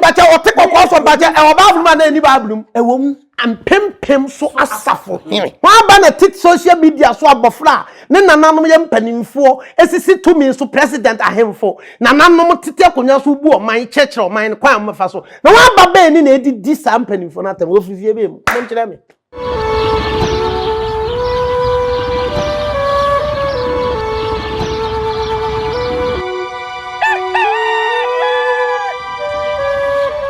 Bàtà ɔte kɔkɔɔ fam bàtà ɛwɔ Bible mu a na ɛni Bible mu. Ɛwɔ mu. Mpempem so asafo hene. Wɔn aba na ɛte social media so abɔfra a ne nananom yɛ mpanimfoɔ sisi tumi so president ahemfo nananom tete akonnwa so bu ɔman kyerɛkyerɛ ɔman no kwan a wɔbɛfa so na wɔaba bɛn ne na ɛdidi saa mpanimfoɔ no atɛm wɔ firi fie bɛn mu? Monkyerɛ me.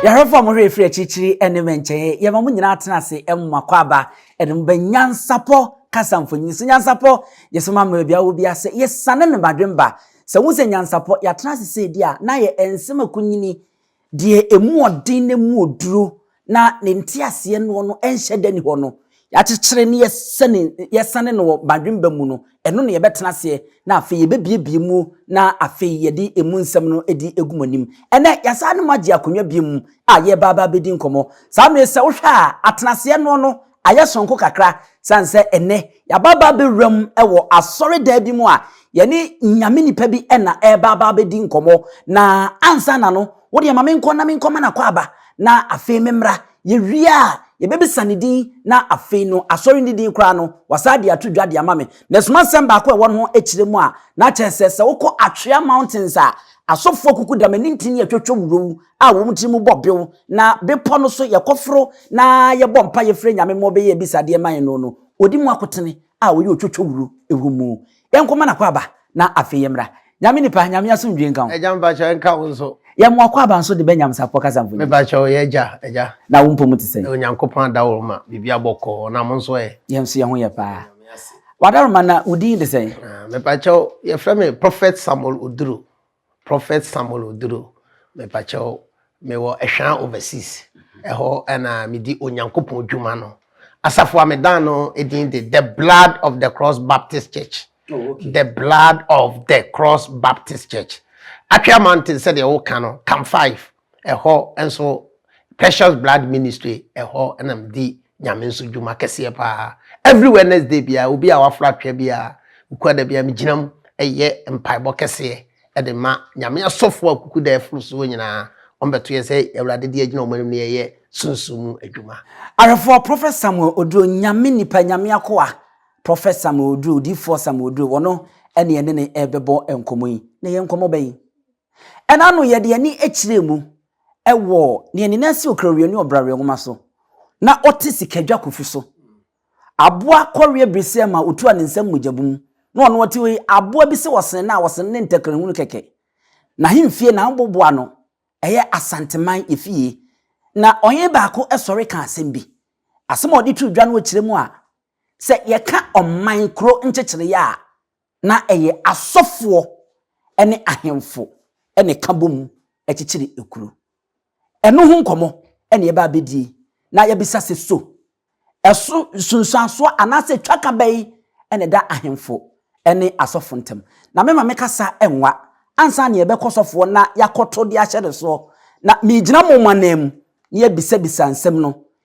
yɛhwɛfo a wɔhwɛ ɛfiri akyirikyiri ne mɛnkyɛeɛ yɛma mo nyinaa tena ase mma kɔ aba ɛde mo bɛ nyansapɔ kasa mfonyin so nyansapɔ yɛsɛ ma mmerɛ bia wɔ bi ase yɛsane ne madwemba sɛ wo sɛ nyansapɔ yɛatena ase sɛ di a na yɛ nsɛm akunyini Deɛ ɛmu ɔden na ɛmu oduro na ne nteaseɛ noɔ no nhyɛ da nni hɔ no, yɛakyekyere na yɛsane yɛsane no wɔ badwemba mu no, ɛno na yɛbɛtena aseɛ, na afei yɛbɛbuebue mu na afei yɛde ɛmu nsɛm no de agu mo anim. Ɛnnɛ, yɛasane ne mo agye akonnwa bio a yɛreba aba abɛdi nkɔmmɔ. Saa mmerɛ yi, sɛ wohwɛ a, atenaseɛ noɔ no ayɛ soronko kakra sane sɛ ɛnnɛ yɛaba aba abɛwura mu wɔ asɔredan bi mu a yɛne nyame nipa bi na ɛreba aba abɛdi nkɔmmɔ na ansa na no wodeɛ ma menkɔ na menkɔma no akwaaba na afei memmra yɛwie a yɛbɛbisa ne din na afei no asɔre ne din koraa no wasaa de ato dwa de ama me na ɛsoma nsɛm baako a ɛwɔ no ho akyerɛ mu a na kyerɛ sɛ sɛ wokɔ Atwea Mountains a asɔfoɔ kuku dam ani ntini atwatwa wuro a wɔn tirim bɔ bew, na bepɔ no so yɛkɔforo na yɛbɔ mpaeɛ frɛ Nyame ma ɔbɛyɛ abisadeɛ ma yɛn no no, ɔdi mu akotene a ɔyɛ otwotwowuro wɔ mu. Yɛnkɔma no akwaaba na afei yɛmmra. Nyame nipa, Nyame asomdwie nka wo. Agya mepakyɛw ɛnka wo nso. Yɛn mo akwaaba nso de bɛnya msapɔ kasa mfonyin. Mepakyɛw ɔyɛ agya, agya. Na wo mpɔmu te sɛn? Onyankopɔn adaworoma, biribi abɔ kɔɔ, na mo nso ɛ? Yɛn nso yɛn ho yɛ paa. W'adaworoma na wo din de sɛn? Mepakyɛw yɛfrɛ me Prophet Samuel Oduro. Prophet Samuel Oduro, mepakyɛw mewɔ Ɛhwaa overseas, ɛhɔ ɛna medi Onyankopɔn dwuma no. Asafo a medan no edin de The Blood of the Cross Baptist Church. Oh, okay. The Blood of the Cross Baptist Church. Atwea Mountain sɛdeɛ woka no, Cam 5, Ɛhɔ nso Precious Blood Ministry ɛhɔ na medi Nyame nso dwuma kɛseɛ paa. Every Wednesday biara obi a wafra atwea biara mekura da biara megyina mu ɛyɛ mpaebɔ kɛseɛ ɛde ma Nyame asɔfoɔ a kuku da afuru soɔ nyinaa wɔn bɛto yɛn sɛ Awurade deɛ agyina wɔn anim no yɛyɛ sunsum mu adwuma. Awerɛfoɔ Prophet Samuel Oduro Nyame nipa Nyame akoa Prophet Samuel Oduro Odiyifoɔ Samuel Oduro wɔno ɛne yɛne no ɛbɛbɔ nkɔmmɔ yi. Na ɛyɛ nkɔmmɔ bɛn? Ɛna ano yɛde yɛn ani kyerɛɛ mu wɔ nea ne nan si okrawea ne ɔbraweɛ nwoma so, na ɔte sikadwa kufu so. Aboa kɔweɛ biriseɛ ma ɔtua ne nsam mogyabɔ mu, na ɔno ɔte hɔ yi, aboa bi se ɔsene no a ɔsene ne ntakrahunu kɛkɛ. N'ahemfie, n'ahoboboa no, ɛyɛ Asanteman efie. Na ɔhene baako sɔre ka asɛm bi. Asɛm a ɔde too dwa no kyerɛ mu a, sɛ yɛka ɔman, kuro nkyekyereyɛ a, Ná ɛyɛ asɔfoɔ ne ahemfo na ɛka bom kyekyere kuro. Ɛno ho nkɔmmɔ na yɛbɛba abɛdie na yɛabisa sɛ, So ɛso nsunsuansoɔ anaasɛ twaka bɛn na ɛda ahemfo ne asɔfo ntam? Na me ma me kasa nwa ansa na yɛbɛkɔ sɔfoɔ na yɛakɔto de ahyɛ ne soɔ. Na meregyina mo mo ananmu na yɛabisabisa nsɛm no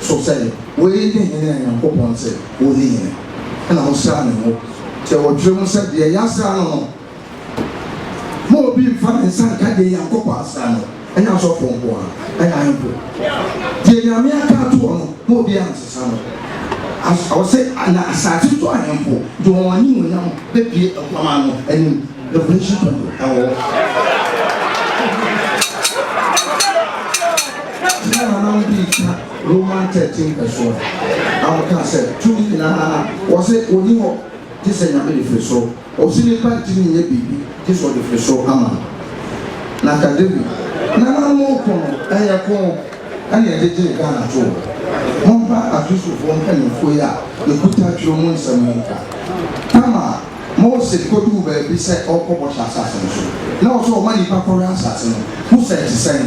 So sɛ woyi ne hene a Nyankopɔn se wonni hene, ɛna mosra ne ngo? Deɛ wɔtwere mu sɛ deɛ yɛasra no no, ma obi mfa ne nsa nka deɛ Nyankopɔn asra no, ɛnyɛ asɔfoɔ nko ara, ɛna ahemfo. Deɛ Nyame aka atoɔ no, ma obiara nsesa no. As, ɔse, na asaase so ahemfo de wɔn animuonyam bɛbue Aguaman no anim, Revelation 20, ɛwɔ hɔ. Tumi a na wɔde retwa Roman Kɛkye mpɛsoa a wɔkaa sɛ tumi nyinaa a wɔse ɔnni hɔ gye sɛ Nyame de firi soro, ɔse nnipa ntumi nyɛ biribi gye sɛ ɔde firi soro ama no. Na ka David nananom ɔko no ɛyɛ ko na ɛde gyee Ghana too. Momfa Akristofoɔ mpaninfoɔ yi a yɛkuta twerɛ mu nsɛm yi nka. Tama a Mose kɔduu baabi sɛ ɔrekɔ bɔhyɛ asase no so, na ɔse ɔma nnipa kɔwɛn asase no, ho sɛ ɛte sɛn?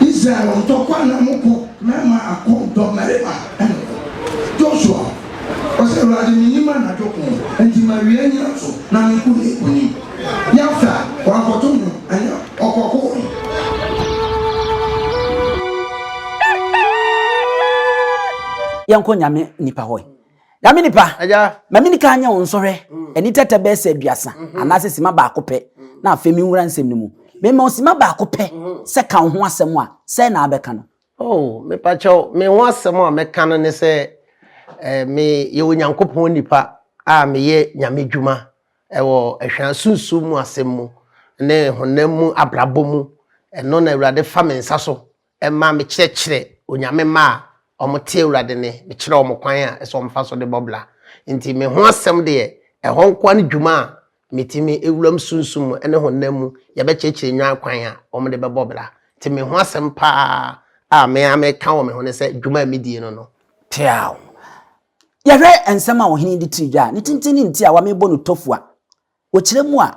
Israel ntɔkwa na mo kɔ na ama akɔ dɔmmarima no ko. Joshua ɔse, Awurade, mennim anadwo ko, enti mawia nyina so na menko ne nkonim. Yefta wankɔto nwom, ɛneɛ ɔkɔkoe. Yɛnkɔ Nyame nipa hɔ. Na me nipa, ma me nika nyɛ wo nsɔhwɛ, ani tɛtɛ bɛyɛ sɛ aduasa, anaasɛ sima baako pɛ, na afei menwura nsɛm no mu. Mema wo sima baako pɛ sɛ ka wo ho asɛm a, sɛn na wobɛka no? Oh, mepa kyɛw, me ho asɛm a mɛka no ne sɛ eh, meyɛ Onyankopɔn nipa a meyɛ Nyame dwuma wɔ ahwia sunsum mu asɛm mu ne honam mu abrabɔ mu. Ɛno na Awurade fa me nsa so Ɛma mekyerɛkyerɛ Onyame mma a wɔte Awurade nne, mekyerɛ wɔn kwan a ɛsɛ sɛ wɔfa so de bɔ bra. Enti me ho asɛm deɛ, ɛhɔ nkoa ne dwuma a metumi wuram sunsum mu ne honam mu yɛbɛkyerɛkyerɛ nnwan kwan a wɔde bɛbɔ bra. Enti me ho asɛm pa ara a me ara meka wɔ me ho ne sɛ dwuma a medie no no, Teaw! Yɛhwɛ nsɛm a ɔhene yi de tiri dwa a ne tenten ne ntiawa a mebɔ no tofua. Wɔkyerɛ mu a,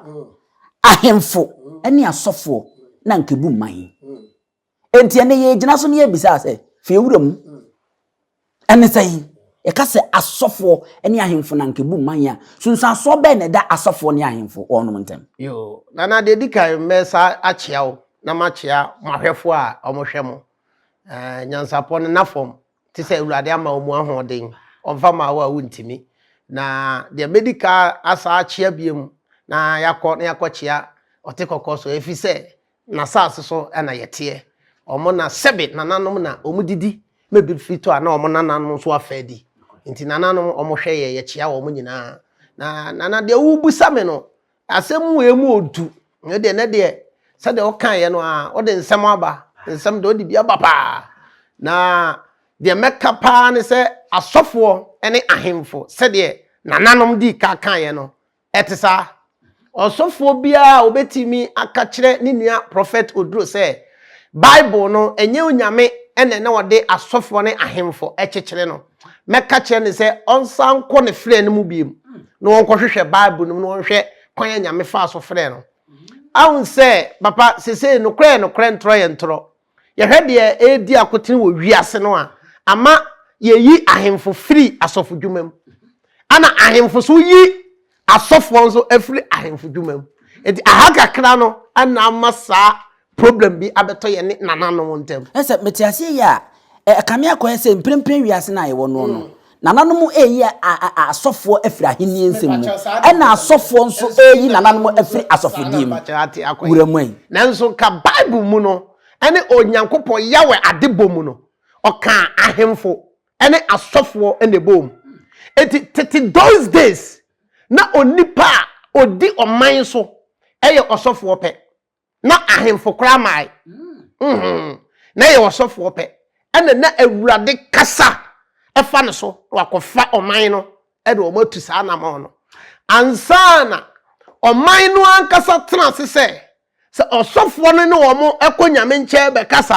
ahemfo ne asɔfoɔ na anka ɛbu mman. Enti ɛnɛ yɛgyina so ne yɛbisa sɛ, fie wura mu, ɛne sɛn? Yɛka sɛ asɔfoɔ ne ahemfo na anka ɛbu mman a, sunsuansoɔ bɛn na ɛda asɔfoɔ ne ahemfo wɔnom ntam? Yoo, Nana deɛ di kan mɛsa akyea wo na makyea mo ahwɛfoɔ a wɔhwɛ mo. Ɛɛ, Nyansapɔ no, Nafɔm, te sɛ awurade ama wɔn ahoɔden ɔmfa ma wo a wontumi na deɛ mɛdi ka asa akyea biam na yɛakɔ na yɛakɔkyea ɔte kɔkɔɔ so ɛfiri sɛ n'asase so na yɛteɛ wɔn na sɛbe nananom na wɔn didi ma bi firi tɔ a na wɔn nananom nso afa adi nti nananom wɔn hwɛ yɛ yɛkyea wɔn nyinaa na nana deɛ wobusa me no asɛm mu yɛ mu odu ne deɛ ne deɛ sɛdeɛ wokaeɛ no a wode nsɛm aba nsɛm deɛ wode bi aba paa na deɛ mɛka paa ne sɛ asɔfoɔ ne ahemfo sɛdeɛ nananom dii ka kaeɛ no ɛte saa ɔsɔfoɔ biara a wɔbɛtumi aka kyerɛ ne nua prɔfɛt oduro sɛ bible no ɛnyɛ onyame ɛna na ɔde asɔfoɔ ne ahemfo ɛkyekyere no mɛka kyerɛ no sɛ ɔnsan nkɔ ne frɛ no mu biom na wɔnkɔhwehwɛ bible no mu na wɔnhwɛ kwan a nyame faa so frɛ no ahun sɛ papa sesei nokorɛ yɛ nokorɛ ntorɔ yɛ ntorɔ yɛhwɛ deɛ ɛredi akotene wɔ wiase no a ama yɛyi ahemfo firi asɔfodwuma mu ana ahemfo so yi Asɔfoɔ nso afiri ahemfo dwuma mu. Nti aha kakra no na ama saa problem bi abɛtɔ yɛne nananom ntam. Ɛyɛ sɛ mete aseɛ yie a, ɛkame akɔyɛ sɛ mprempren wiase no a yɛwɔ noɔ no, nananom reyi asɔfoɔ afiri ahennie nsɛm mu, ɛna asɔfoɔ nso reyi nananom afiri asɔfodie mu. Wura Mwai. Nanso nka Bible mu no, ɛne Onyankopɔn Yahweh adebɔ mu no, ɔkaa ahemfo ɛne asɔfoɔ na ɛboom. Enti tete those days na onipa a ɔdi ɔman so yɛ ɔsɔfoɔ pɛ. Na ahemfo koraa mae. Mm-hmm. Na ɛyɛ ɔsɔfoɔ pɛ. Ɛna na Awurade kasa ɛfa no so na wakɔfa ɔman no ɛde wɔn atu saa anamɔn no. Ansa na ɔman no ankasa tena ase sɛ Sɛ ɔsɔfoɔ no ne wɔn kɔ Nyame nkyɛn bɛkasa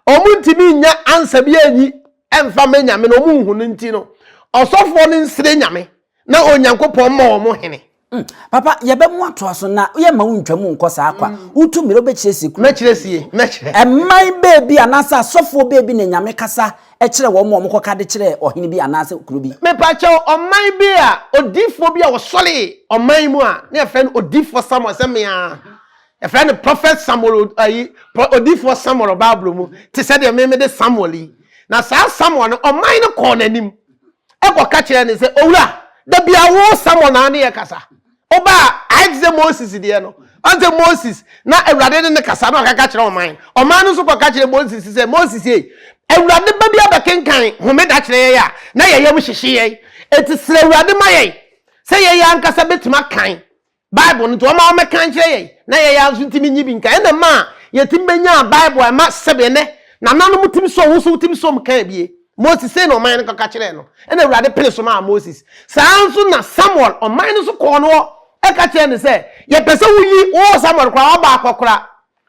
a, wɔn ntumi nnya ansa bi anyi mfa mɛ Nyame no, wɔn nhu no nti no, ɔsɔfoɔ no nsrɛ Nyame na Onyankopɔn mma wɔn hene. Mm, papa, yɛbɛmo atoa so na yɛmma wo ntwa mu nkɔ saa kwa. Wotu mmirɛ wobɛkyerɛ sie kuro. Mɛkyerɛ sie, mɛkyerɛ. Ɛman baabi anaasɛ asɔfoɔ baabi na Nyame kasa kyerɛ wɔn ma wɔkɔka de kyerɛ ɔhene bi anaasɛ kuro bi. Mepakyɛw, ɔman bi a odiyifoɔ bi a ɔsɔree ɔman mu a na yɛfrɛ no odiyifoɔ Samuel sɛ me ara. Yɛfrɛ no Prophet Samuel ayi, odiyifoɔ Samuel Bible mu te sɛ deɛ me mede Samuel yi. Na saa Samuel no, ɔman no kɔɔ n'anim ɛkɔka kyerɛɛ no sɛ, Owura, da biara wo Samuel na ne yɛkasa. Ɔbaa ayɛ te sɛ Moses deɛ no. Ɔn sɛ Moses, na Awurade ne no kasa na ɔkaka kyerɛ ɔman. Ɔman no nso kɔka kyerɛ Moses sɛ, Moses ei, Awurade ba bi abɛkenkan homeda kyerɛ yɛn a, na yɛn yam hyehye yɛn. Enti srɛ Awurade ma yɛn sɛ yɛn ara ankasa bɛtumi akan Bible no. Nti ɔma wɔmɛkan kyerɛ yɛn, na yɛn ara nso ntumi nnye bi nkan. Ɛna ɛmaa yɛtumi bɛnyaa Bible a ɛma sɛdeɛ nnɛ nananom tumi sɔ, wo nso wotumi sɔ mu kan bi. Moses sei na ɔman no kɔka kyerɛɛ no, ɛna Awurade pene so maa Moses. Saa ara nso na Samuel, ɔman no so kɔɔ no hɔ ɛka kyerɛɛ no sɛ, yɛpɛ sɛ woyi wo wɔ Samuel koraa, waba akɔkora.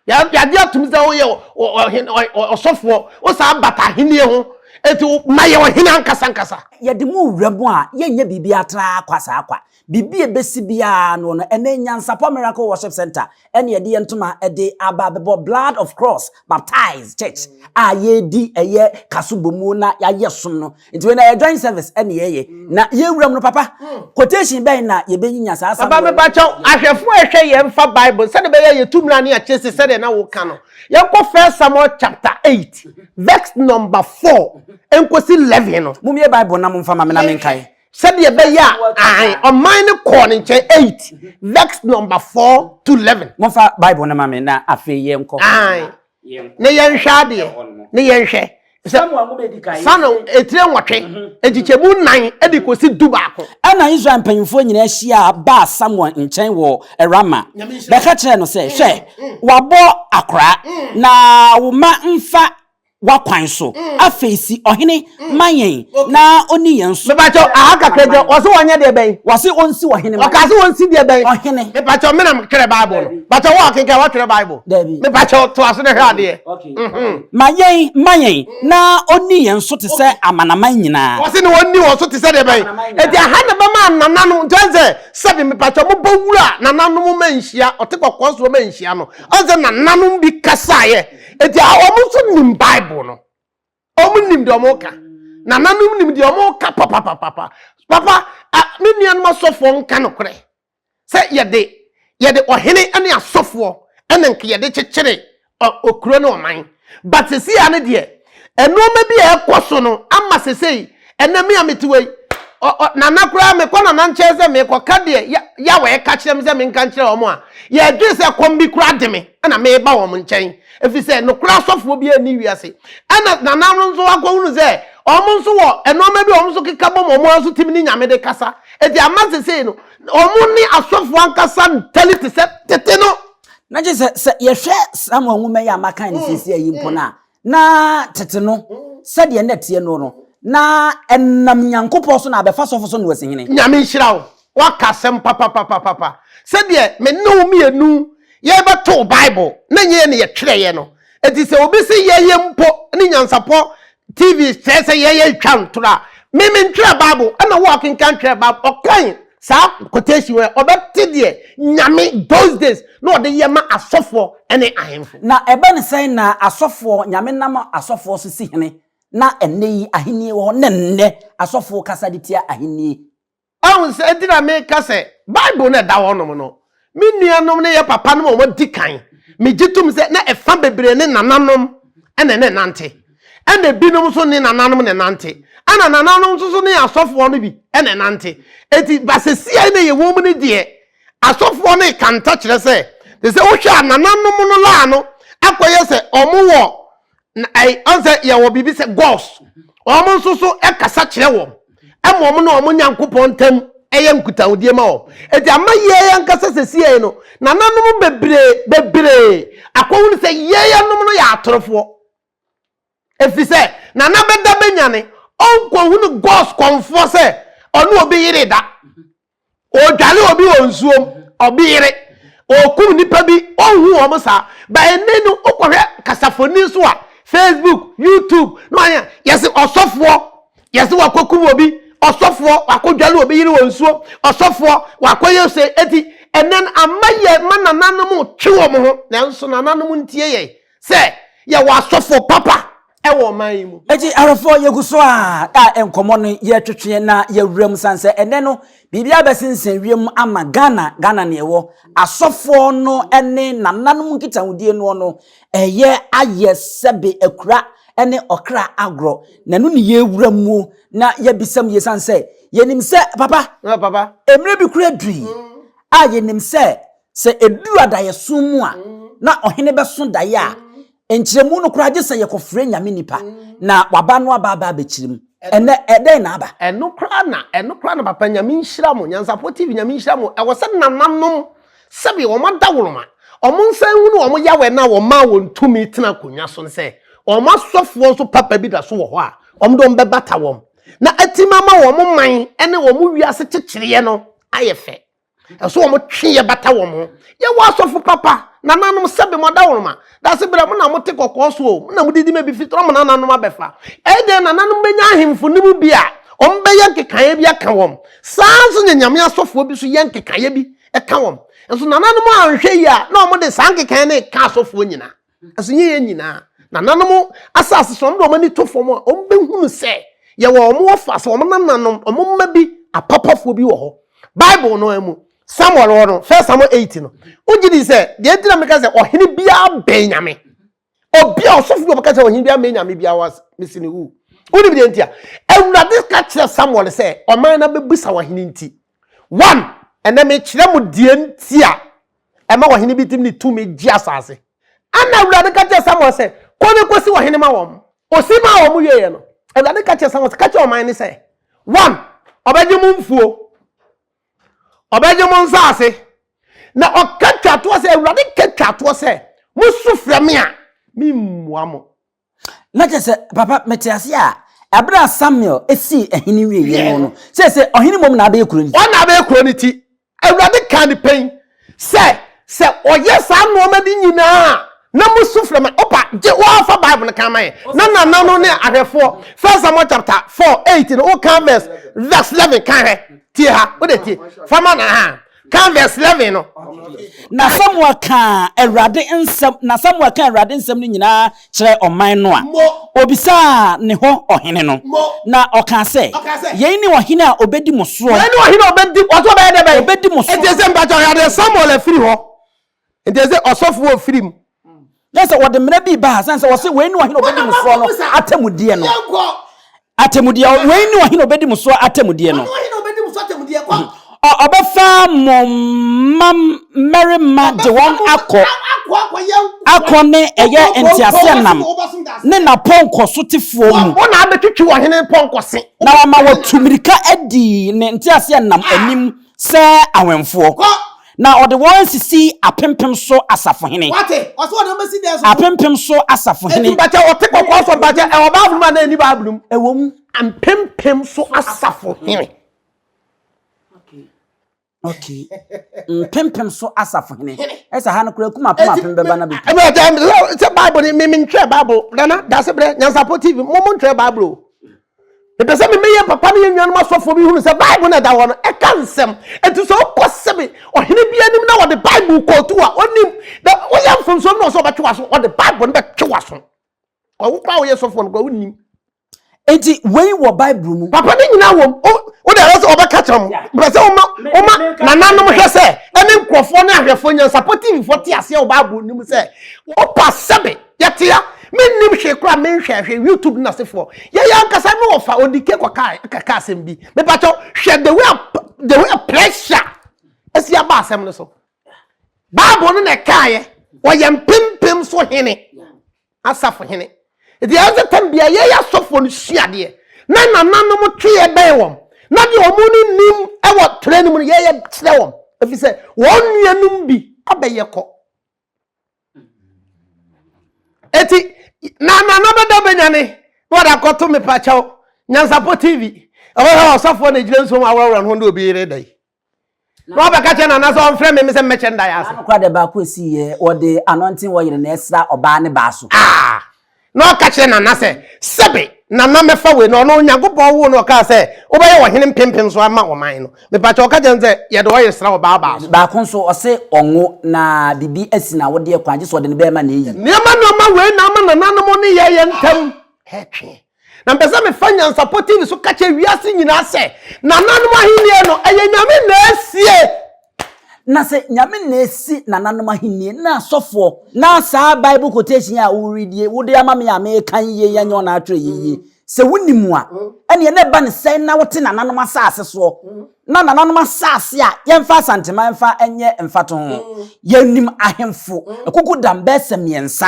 Yɛ- Yɛagye atom sɛ woyɛ ɔ- ɔ- ɔhen- ɔ- ɔ- ɔsɔfoɔ, wosan bata ahennie ho, enti wo- ma yɛ ɔhene ankasankasa. Yɛde mo wura mu a, yɛnyɛ biribiara tra kwa saa kwa. Biribi a ɛbɛsi biara no no, ɛnnɛ Nyansapɔ Miracle Worship Centre na yɛde yɛn ntoma de aba abɛbɔ Blood of Cross Baptized Church a yɛredi ɛyɛ kaso bɔmu na yɛayɛ som no. Nti wei na ɛyɛ joint service na yɛyɛ na yɛwura mu no papa quotation bɛn na yɛbɛnyinya saa asɛm Papa mepakyɛw, ahwɛfoɔ a ɛhwɛ yɛn mfa Bible sɛdeɛ ɛbɛyɛ a yɛtu mmara ne akyire se sɛdeɛ na woka no. Yɛnkɔ First Samuel chapter eight verse number four nkɔsi eleven no. Mommie Bible no na momfa ma me na menkae. Sɛdeɛ ɛbɛyɛ a, ae, ɔman no kɔɔ ne nkyɛn, eight, verse number four to eleven. Momfa Bible no ma me na afei yɛnkɔ. Ae, ne yɛnhwɛ adeɛ, ne yɛnhwɛ. Samuel nwoma edi kan. Samuel etire nwɔtwe, mhm. nkyekyɛmu nnan de kɔsi du baako. Ɛna Israel mpanyinfoɔ nyinaa hyia baa Samuel nkyɛn wɔ Rama bɛka kyerɛɛ no sɛ, mm, hwɛ, mm. wabɔ akora, mm. na wo mma mfa w'akwan so. Afei si ɔhene ma yɛn na ɔnni yɛn so. Mepakyɛw, aha kakra gyina hɔ. Ɔse wɔnyɛ deɛ bɛn? Ɔse ɔnsi ɔhene ma yɛn. Ɔkaa sɛ wɔnsi deɛ bɛn? Ɔhene. Mepakyɛw, me na metwerɛ Bible no. Mepakyɛw, wo a ɔkenkan, woatwerɛ Bible? Dabi. Mepakyɛw, toa so na hwɛ adeɛ. Okay. Ma yɛn, ma yɛn, na ɔnni yɛn so te sɛ amanaman nyinaa. Ɔse na ɔnni wɔn so te sɛ deɛ bɛn? Enti aha na ɛbɛma nana no, nti ɔn sɛ, sɛbi, mepakyɛw, mobɔ wura nananom ma nhyia, ɔte kɔkɔɔ soɔ ma nhyia no, ɔn sɛ nananom bi kasaeɛ. Enti a wɔn nso nim Bible no. Wɔn nim deɛ wɔn ka. Nananom nim deɛ wɔn ka papapapapa. Papa, me nuanom asɔfoɔ nka nokorɛ sɛ yɛde yɛde ɔhene ne asɔfoɔ ɛna nka yɛde kyekyere okuro ne ɔman. But sisi a ne deɛ, nneɛma bi a ɛkɔ so no ama sesei. ɛnɛ me a mete wɔ yi nana koraa mekɔ nana nkyɛn sɛ mekɔka deɛ yawɛ ɛka kyerɛ me sɛ menka nkyerɛ wɔn a yɛdwene sɛ kɔm bi koraa de me ɛna meba wɔn nkyɛn ɛfiri sɛ nokora asɔfoɔ bi ani wiase ɛna nana no nso akɔhunu sɛ wɔn nso wɔ ɛnoɔma bi wɔn nso keka bɔ wɔn nso tim ne nyame de kasa ɛti ama sesei no wɔn ne asɔfoɔ ankasa ntali te sɛ tete no na gye sɛ sɛ yɛhwɛ saa ma nwoma yi a maka ne sisi ayi mpo no a Na tete no, sɛdeɛ na ɛteɛ no no, na ɛnam Nyankopɔn so na abɛfa sɔfo so noa si hene. Nyame nhyira wo. Woaka asɛm papapapapa. Sɛdeɛ me ne wo mmienu yɛbɛtoo Bible na ɛnyɛ yɛn na yɛtwerɛeɛ no. Enti sɛ obi se yɛyɛ mpo ne Nyansapɔ TV kyerɛ sɛ yɛyɛ retwa ntorɔ a, me mentwerɛɛ Bible, ɛna wo a wokenkan twerɛɛ Bible. Ɔkwan saa quotation wɔ ɔbɛte deɛ nyame those days na ɔde yɛ ma asɔfoɔ ne ahemfo. Na ɛbɛ ne sɛn na asɔfoɔ nyame nam asɔfoɔ so si hene na ɛnnɛ yi ahennie wɔ hɔ na ɛnnɛ asɔfoɔ kasa de tia ahennie. Wahu sɛ nti na meka sɛ bible no ɛda hɔ nom no Me nuanom ne yɛn papanom a wɔadi kan, megye tom sɛ na ɛfa bebree ne nananom na ne nante. Ɛna ebinom nso ne nananom ne nante. Ɛna nananom nso ne asɔfoɔ no bi ne nante. Eti basasia na yɛwɔ mu no deɛ, asɔfoɔ no kanta kyerɛ sɛ, te sɛ wohwɛ a nananom no laa no akɔyɛ sɛ wɔn wɔ ɔsɛ yɛwɔ biribi sɛ gods wɔn nso so kasa kyerɛ wɔn ɛma wɔn ne wɔn nyankopɔn ntam ɛyɛ nkutahodie ma wɔn eti ama yɛn ankasa sɛsie no nananom bebree bebree akɔhunu sɛ yɛn anom no yɛ atorofoɔ efi sɛ nana bɛda bɛnyane ɔnkɔhunu gods kɔnfoɔ sɛ ɔne obi yere da. Ɔredware obi wɔ nsuom, ɔbeyere, ɔrekum nnipa bi, ɔnhu wɔn saa. But ɛnnɛ no wokɔhwɛ kasafoni nso a, Facebook, YouTube, na wayɛ, yɛse ɔsɔfoɔ, yɛse wakɔkum obi, ɔsɔfoɔ wakɔdware obi yere wɔ nsuo, ɔsɔfoɔ wakɔyɛ se, eti ɛnnɛ no ama yɛ ma nananom twe wɔn ho, nanso nananom ntie yɛn sɛ yɛwɔ asɔfoɔ papa. ɛwɔ ɔman yi mu. Eti awɛfoɔ yɛgu so a a nkɔmmɔ no yɛtwetwe na yɛwura mu san sɛ ɛnɛ no biribi abɛsensɛn wiem ama Ghana Ghana ne ɛwɔ asɔfoɔ no ne nananom nkitahodie noɔ no ɛyɛ ayɛ sɛbe akura ne ɔkra agorɔ na ɛno ne yɛwura muo na yɛbisam yie san sɛ yɛnim sɛ papa papa mmerɛ bi kura dui a yɛnim sɛ sɛ ɛduru adayɛso mu a na ɔhene bɛso daeɛ a Nkyerɛmu no koraa gye sɛ yɛkɔfrɛ Nyame nipa na waba no aba aba abɛkyerɛ mu. Ɛnɛ ɛdɛn na aba? Ɛno koraa na, ɛno koraa na papa Nyame nhyira mo, Nyansafoɔ TV Nyame nhyira mo, ɛwɔ sɛ nananom sɛbi wɔn adaworoma, wɔn nsa nhunu wɔn Yawɛ no a wɔmaa wɔn tumi tena akonwa so no sɛ wɔn asɔfoɔ nso papa bi da so wɔ hɔ a wɔn de wɔn bɛbata wɔn na atimi ama wɔn man ne wɔn wiase kyekyereɛ no ayɛ fɛ. ɛso wɔn twe yɛ bata wɔn ho yɛwɔ asɔfo papa nananom sɛbe mo adaworoma dase berɛ mo na mo te kɔkɔɔ so o mo na mo didi ma bi fitorɔ mo nananom abɛfa ɛyɛ dɛn nananom bɛnya ahemfo no mu bi a wɔn bɛyɛ nkekaeɛ bi aka wɔn saa nso na nyame asɔfoɔ bi so yɛ nkekaeɛ bi ɛka wɔn nso nananom anhwɛ yi a na wɔn de saa nkekaeɛ no ka asɔfoɔ nyinaa Nanso nyɛ yɛn nyinaa. Nananom asase so, wɔn de wɔn ani to fam a, wɔbɛhunu sɛ yɛwɔ wɔn wɔfa, sɛ wɔn nananom, wɔn mma bi, apapafoɔ bi wɔ hɔ. Bible no ara mu, Samuel hɔ no, 1 Samuel 8 no, wogye di sɛ, deɛ nti na meka sɛ ɔhene biara bɛn Nyame. Obi a ɔsɔfo bi ɔbɛka sɛ ɔhene biara mmɛn Nyame biara wɔ mesi ne wu. Wonim deɛ nti a? Awurade ka kyerɛ Samuel sɛ ɔman no abɛbisa wɔ ahene nti. One, ɛnnɛ mekyerɛ mo deɛ nti a ɛma ɔhene bi tumi de tumi gye asase. Ɛnna Awurade ka kyerɛɛ Samuel sɛ, Kɔ na kɔsi ɔhene ma wɔn. Ɔsi maa wɔn wieeɛ no, Awurade ka kyerɛɛ Samuel sɛ, Ka kyerɛ ɔman no sɛ, One, ɔbɛgye mo mfuo, ɔbɛgye mo nsase, na ɔka twatoɔ sɛ, Awurade ka twatoɔ sɛ, mosu frɛ me a, memmua mo. na kyerɛ sɛ papa mete ase a ɛberɛ a samuel sii ɛhene wieɛ no no sɛ sɛ ɔhene mmom na abɛyɛ kuro no ɔna abɛyɛ kuro no ti awurade kaa ne pɛn sɛ sɛ ɔyɛ saa nnoɔma bi nyinaa a na mo su frɛ me opa gye wɔafa bible no kan ma yɛ na nana no ne ahwɛfoɔ first samuel chapter 4 8 no woka verse verse 11 kan hɛ tie ha wode tie fama na ha Kan verse eleven no. Na Samuel kaa Awurade nsɛm na Samuel kaa Awurade nsɛm no nyinaa kyerɛɛ ɔman no a obisaa ne hɔ ɔhene no, na ɔkaa sɛ, Yei ne ɔhene a ɔbɛdi mo soɔ. Wei ne ɔhene a ɔbɛdi, ɔsɛ ɔbɛyɛ dɛ bɛn? Ɔbɛdi mo soɔ. Ɛnti sɛ mpakyɛ ɔyɛ adeɛ Samuel afiri hɔ, Nti ɛsɛ sɛ ɔsɔfo wɔ firi mu. Kyɛ sɛ wɔde mmara bi baa sane sɛ wɔse wei ne ɔhene ɔbɛdi mo soɔ no atemmudeɛ no. Atemmudeɛ, wei ne ɔhene ɔbɛdi mo soɔ atemmudeɛ no. Ɔbɛfa mo mma mmarima de wɔn akɔ akɔ ne ɛyɛ nteaseɛnam ne n'apɔnkɔ sotefoɔ mu. Wɔn na abɛtwitwi ɔhene pɔnkɔ se. Na wɔama wɔtu mmirika adi ne nteaseɛnam anim. Sɛ awɛmfoɔ. Na ɔde wɔn asisi apempem so asafohene. Apempem so asafohene. Ɛwom, mpempem so asafohene. Mpempem so asafohene. Ɛsɛ ha no koraa kum apem apem bɛba na bɛpi. Sɛ Bible ni, me mentwerɛ Bible. Nana, dasebrɛ, Nyansapo TV, mo montwerɛ Bible o. mepɛ sɛ meme yɛ papa ne yɛ nuanom asɔfoɔ bi hunu sɛ bible no ɛda hɔ no ɛka nsɛm ɛti sɛ wokɔ sɛbe ɔhene bi anim na wɔde bible kɔɔtu a ɔnim na woyɛ mfomsoɔ no ɔsɛ ɔbɛtwe waso ɔde bible no bɛtwe waso ɔwo koraa woyɛ sɔfoɔ no koraa wonim eti wei wɔ bible mu papa ne nyinaa wɔ mu wo de ɛsɛ ɔbɛka kyerɛ mu mepɛ sɛ woma woma nananom hwɛ sɛ ɛne nkurɔfoɔ ne ahwɛfoɔ nyansapotiifoɔ te aseɛ wɔ bible no mu sɛ wopa sɛbe Yɛteɛ, mennim hwee koraa a menhwɛɛ hwee, YouTube ne n'asefoɔ. Yɛn ankasa ne wɔfa Odike kɔkae kɛkɛɛ asɛm bi. Mepakyɛw, hwɛ the way a the way a pressure asi aba asɛm no so. Bible no na ɛkaeɛ, wɔyɛ mpempem so hene, asafo hene. Nti ɛyɛ sɛ tam bia yɛyɛ asɔfoɔ no sua adeɛ na nananom tweɛ bɛn wɔn na deɛ wɔn no nim ɛwɔ twerɛ no mu no yɛyɛ kyerɛ wɔn ɛfiri sɛ wɔn nuanom bi abɛyɛ kɔ eti na na na bɛda bɛnya ne na wɔde akɔto me pakyɛw nyansapɔ tv ɛhɔ hɛ ɔsɔfoɔ na egyina nsuo mu aworɔworɔ ne ho ne obi yere da yi na wɔbɛka kyɛ na nasɛ ɔmfrɛ me me sɛ mmɛkyɛ nda yɛ ase. Anokora deɛ baako esi yɛ wɔde anɔnten wɔyere na ɛsra ɔbaa ne baa so. Ah. na ɔka kyerɛ Nana sɛ, Sɛbe Nana mɛfa wei na ɔno Onyankopɔn woo no ɔkaa sɛ wobɛyɛ ɔhene mpempem so ama ɔman no. Mepakyɛ ɔka kyerɛ no sɛ yɛde ɔyere sra ɔbaa baa so. Baako nso ɔse ɔnwo na biribi asi no awodeɛ kwan gyesɛ ɔde no bɛɛma na ɛyi. Nneɛma nneɛma wei na ama nananom ne yɛn yɛn ntam ɛtwe. Na mpɛ sɛ mefa Nyansapɔ TV so ka kyerɛ wiase nyinaa sɛ nananom ahennie no ɛyɛ Nyame na asie Na sɛ Nyame na esi nananom ahenni na asɔfoɔ. Na saa Bible quotation yi a wo read yi, wo de ama me a meeka yi yie yɛnyɛ wɔn a atwerɛ yi yie. Sɛ wo nim a, ɛneɛ na ɛba no sɛn na wo te nananom asase soɔ? Na nananom asase a, yɛmfa Asanteman mfa nyɛ mfatoho. Yɛnim ahemfo, Akukudam, Bɛɛsa mmiɛnsa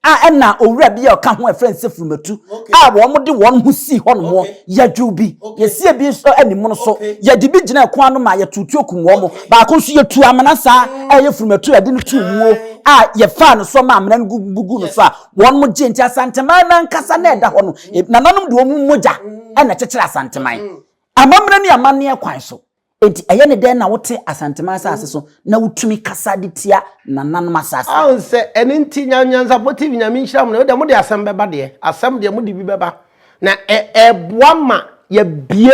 a nna owura bi a ɔka ho a wɔfrɛ no Sefurumatu a wɔde wɔn ho sii hɔnom yɛdwew bi. Yɛsiee bi nso animono so. Yɛde bi gyinaa kwan ano ma yɛtoo tuo kum wɔn. Baako nso, yetuu amena saa a ɛyɛ Furumatu a yɛde no too muo a yɛfaa no so maa amena no guguu no so a wɔn gyee. Nti Asanteman no ankasa na ɛda hɔ no, nananom de wɔn mogya na ɛkyekyeree Asanteman amammerɛ ne amanneɛ kwan so. Enti ɛyɛ ne dɛn na wote Asanteman asase so na wotumi kasa de tia nananom asase? Ahu sɛ ɛno nti Nya Nyansapɔ TV Nyame nhyira mo na wode mode asɛm bɛba deɛ asɛm deɛ mode bi bɛba na ɛ ɛboa ma yɛbie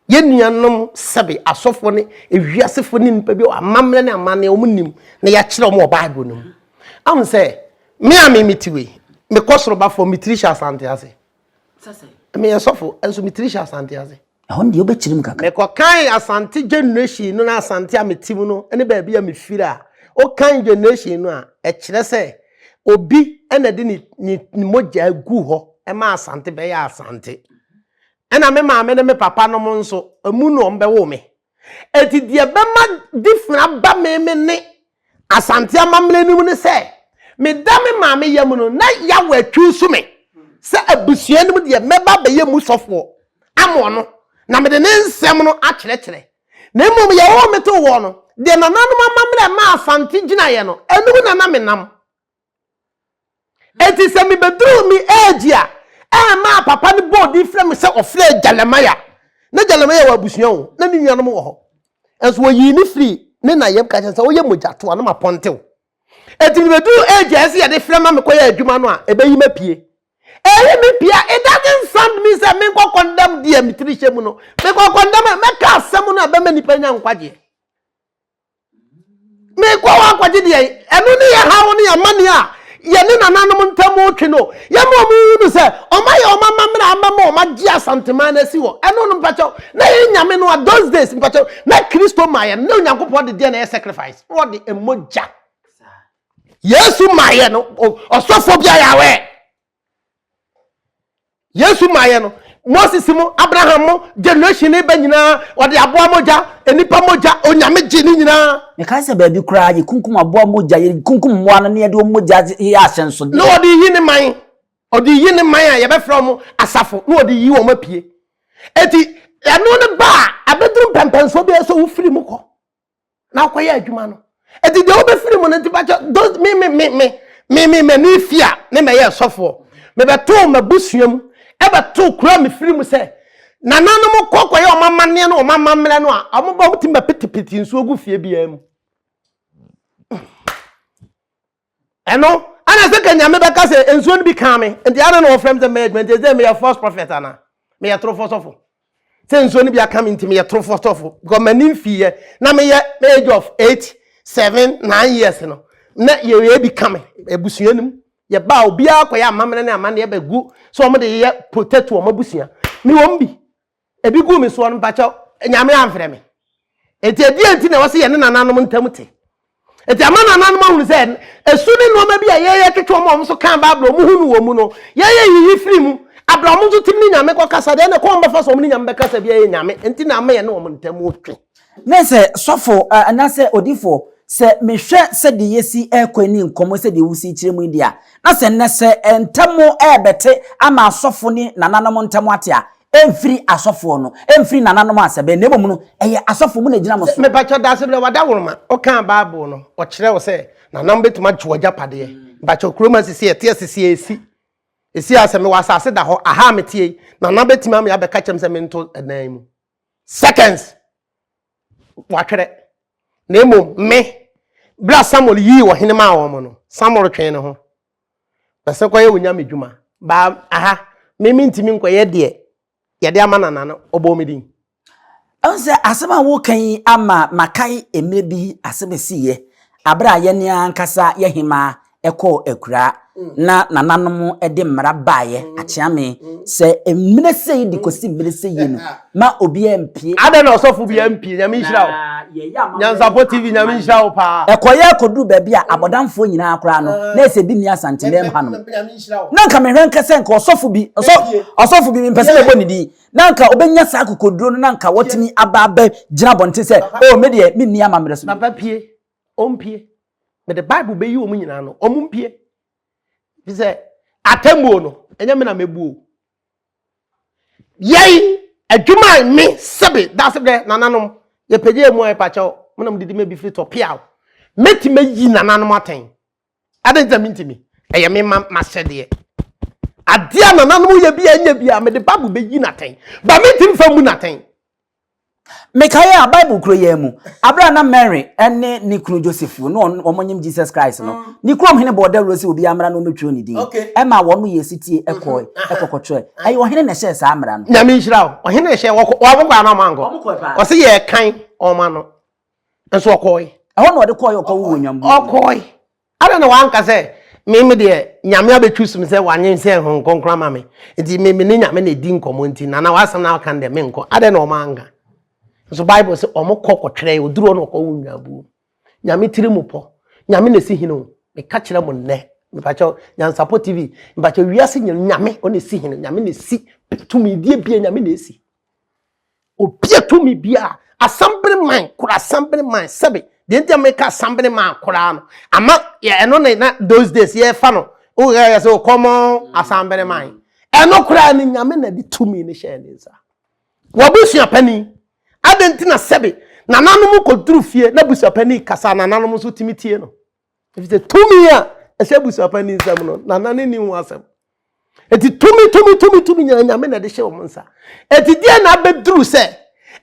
yɛ nuanom sɛbe asɔfoɔ ne ewiasefoɔ ne nipa bi wɔ amammerɛ ne amanneɛ wɔn nim na yɛakyerɛ wɔn wɔ Bible no mu ahu sɛ me a me mete wei mekɔ soro ba fam me tiri hyɛ Asante ase meyɛ sɔfo nso me tiri hyɛ asante ase ɛhɔ no deɛ wobɛkyerɛ mu kakra mekɔkan asante generation no na asante a mete mu no ne baabi a mefiri a wokan generation no a ɛkyerɛ sɛ obi na de ne ne mogya gu hɔ ɛma asante bɛyɛ asante ɛna me maame ne me papa nom nso ɛmu na wɔbɛwo me Enti deɛ ɛbɛma different aba me me ne Asante amammerɛ no mu ne sɛ, meda me maame yam no, na Yahweh atwuusu me sɛ abusua no mu deɛ mɛba abɛyɛ mu sɔfoɔ ama ɔno, na mede ne nsɛm no akyerɛkyerɛ. Na mmom Yehowa metoo wɔn no, deɛ nananom amammerɛ a ɛmaa Asante gyinaeɛ no, ɛno mu na na menam. Enti sɛ mibeduruu me age a ɛmaa papa no bɔɔ din frɛɛ me sɛ ɔfrɛɛ Jeremiah. Ná Jeremiah wɔ abusua o, na ne nuanom wɔ hɔ. Nanso wɔyii me firii ne na yam ka kyerɛɛ me sɛ, Woyɛ mogyatoa na mapɔntew. Enti mibeduruu age a ɛsɛ sɛ yɛde frɛ ma mekɔyɛ adwuma no a, ebeyi me apue. Eyi me pue a, it doesn't sound me sɛ menkɔ condemn deɛ me tiri hyɛ mu no. Mekɔ condemn a, mɛka asɛm no a ɛbɛma nnipa anya nkwagyeɛ. Meekɔ hɔ akɔgye deɛ ɛno ne yɛ haw ne amane a yɛne nananom ntam retwe no. Yɛma wɔn hu no sɛ wɔn ayɛ wɔn amammerɛ a ɛbɛma wɔn agye Asanteman no asi hɔ. Ɛno no mpakyɛw, na yɛn nyame no a those days mpakyɛw, na Kristo ma yɛn no, na Onyankopɔn de deɛ na ɛyɛ sacrifice, na ɔde mogya. Yesu ma yɛn no, ɔsɔfoɔ bi ayɛ aware. yesu maayɛ no moses mo abraham mo generation ne bɛ nyinaa ɔde aboa mogya nnipa mogya onyame gye ne nyinaa mekae sɛ baabi koraa yɛkunkum aboa mogya yɛkunkum mmoa no ne yɛde wɔn mogya yɛ ahyɛnsodeɛ na ɔde yi ne man ɔde yi ne man a yɛbɛfrɛ wɔn asafo na ɔde yi wɔn apue eti ɛno ne ba a abɛduru mpɛmpɛnsoɔ bi a ɛsɛ sɛ wofiri mu kɔ na akɔyɛ adwuma no ɛti deɛ wobɛfiri mu no nti bakyɛ those me me me me me me me me fi a me mɛyɛ ɛsɔfoɔ mebɛtoo m'abusua mu ɛbɛtoo kura mefiri mu sɛ nananom kɔ kɔyɛ wɔn amanneɛ no wɔn amammerɛ no a wɔn ba wɔn ti ma pitipiti nsuo gu fie biara mu. Ɛno ana sɛ ka Nyame bɛka sɛ nsuo no bi kaa me nti ana na wɔfrɛ me sɛ mɛyɛ adwuma nti ɛsɛ meyɛ false prophet ana meyɛ torofoɔ sɔfo sɛ nsuo no bi aka me nti meyɛ torofoɔ sɔfo because m'ani mfiiɛ na meyɛ age of eight seven nine years no na yɛyɛ bi ka me abusua no mu yɛbaa obiara kɔyɛ amammerɛ ne amanneɛ bɛgu sɛ wɔn de yɛ protect wɔn abusua me wɔn bi Ebi gu me soɔ no, mpakyɛw, Nyame amfrɛ me. Enti ɛdeɛn nti na ɛwɔ sɛ yɛne nananom ntam te? Enti ama nananom ahunu sɛ ɛsu ne nnoɔma bi a yɛyɛ twetwe wɔn a wɔn nso kaa Bible a wɔn ho nu wɔn mu no, yɛyɛ yiyi firi mu. Abrɛ a wɔn nso tumi ne Nyame kɔkasa deɛ, ɛnna kwan a wɔbɛfa so wɔne Nyame bɛkasa biara yɛ Nyame nti na ama yɛne wɔn ntam twe. Ne sɛ, Sɔfo, anaasɛ Odifo, sɛ mehwɛ sɛdeɛ yɛsi rekɔ ani nkɔmmɔ sɛdeɛ wosi kyerɛ mu yi deɛ a, na sɛ nnɛ sɛ ntam rebɛte ama asɔfo ne nananom ntam ate a, ɛmfiri asɔfoɔ no, ɛmfiri nananom a sɛbɛɛ, na mmom no, ɛyɛ asɔfo, mo na ɛgyina mo so. Me pa kyɛw, Daasebrɛ, W'adawroma, wokaa Bible no, wɔkyerɛ wo sɛ nananom bɛtumi agye w'agyapadeɛ. Me pa kyɛw, kurom ha sisi a, ɛte a sisi a ɛsi. Ɛsi a sɛ mewɔ asase da hɔ, aha a meteɛ yi, nana bɛtumi ame abɛka kyerɛ me sɛ mento ɛdan mu. seconds watwerɛ na mmom me berɛ a samuel yii ɔhene maa wɔn no samuel twee ne ho bɛsɛ kɔyɛ wo nyame dwuma baa aha me mentumi nkɔyɛ deɛ yɛde ama nana no ɔbɔɔ me din ɛhu sɛ asɛm a woka yi ama makae mmerɛ bi asɛm ɛsiiɛ aberɛ a yɛne ankasa yɛhemaa kɔɔ akuraa na nananom de mmara baeɛ akyea me sɛ mmerɛ sei de kɔsi mmerɛ sei no ma obiara mpie. Adɛn na ɔsɔfo biara mpie? Nyame nhyira wo. Nyansapɔ TV Nyame nhyira wo paa. Ɛkɔyɛɛ kɔduru baabi a abɔdamfoɔ nyinaa koraa no na ɛsɛ ebi nni Asantenam hanom. Na anka mehwɛ nka sɛ nka ɔsɔfo bi, ɔsɔfo bi mempɛ sɛ mɛbɔ ne din, na anka ɔbɛnya saa akokoduro no na anka watumi aba abɛgyina abɔnten sɛ, oh me deɛ menni amammerɛ so. Papa pie. Ɔmpue. Mede Bible bɛyi wɔn nyinaa no, wɔn mpue. Fi sɛ atemmuo no, ɛnyɛ me na mɛbuo. Yɛi, adwuma a me sebe dase dɛ nananom yɛpɛgye mu a yɛpakyɛw, mo na mo didi me bi firi tɔ piaw. Mɛtumi ayi nananom atɛn. Adɛn nti a mentumi? Ɛyɛ me ma m'ahyɛdeɛ. Adeɛ a nananom yɛ bi a ɛnyɛ bi a mede Bible bɛyi no atɛn. Ba mentumi fa mmu no atɛn. Mekae a Bible kuro yɛn mu, abere a na Mary ne ne kunu Joseph wɔ no, na wɔnyim Jesus Christ no, ne kurom hene bɔɔ dawuro sɛ obiara mmra na ɔmmɛtwerɛ ne din. Ɛmaa wɔn yɛɛ setie kɔe kɔkɔtwerɛe. Ɛyɛ ɔhene na ɛhyɛɛ saa mmara no. Nyame nhyira wo. Ɔhene na ɛhyɛɛ, wɔkɔ, wɔkɔ anaa wɔankɔ? Wɔkɔe paa. Ɔse yɛkan wɔn ano. nso ɔkɔɔe. Ɛhɔ na ɔde kɔɔe ɔkɔ wo wɔ nyambu. Ɔkɔɔe. Ada na wanka sɛ me me deɛ nyame abɛtwi sum sɛ wanyen sɛ ɛho nkonkron ama me. Nti me me ne nyame na ɛdi nkɔmɔ nti na na wasɛm na aka ndɛ me nkɔ. Ada na ɔma anka. Nso Bible sɛ ɔmo kɔ kɔ twerɛ ɔduru ɔna ɔkɔ wo nyambu. Nyame tiri mu pɔ. Nyame na ɛsi hene o. Me ka kyerɛ mo nnɛ. Me pa kyɛw nyansapɔ TV. Me pa kyɛw wiase nyame ɔna ɛsi hene. Nyame na ɛsi. Tumi die bia nyame na ɛsi. obia tumi biaa assembly man kora assembly man sɛbi deɛ nti a meka assembly man koraa no ama ɛno ne na those days yɛfa no woyɛ yɛ sɛ o common assembly man ɛno koraa no nyame na de tumi no hyɛɛ ne nsa wabusua pani adɛn nti na sɛbi nananom kɔduru fie na busuapani kasa nananom nso tumi tie no Efisɛ tumi a ɛhyɛ abusuapɛn no nsam no, nana no nni ho asɛm. Enti tumi, tumi, tumi, tumi nyinaa Nyame na ɛde hyɛ wɔn nsa. Enti deɛ na abɛduru sɛ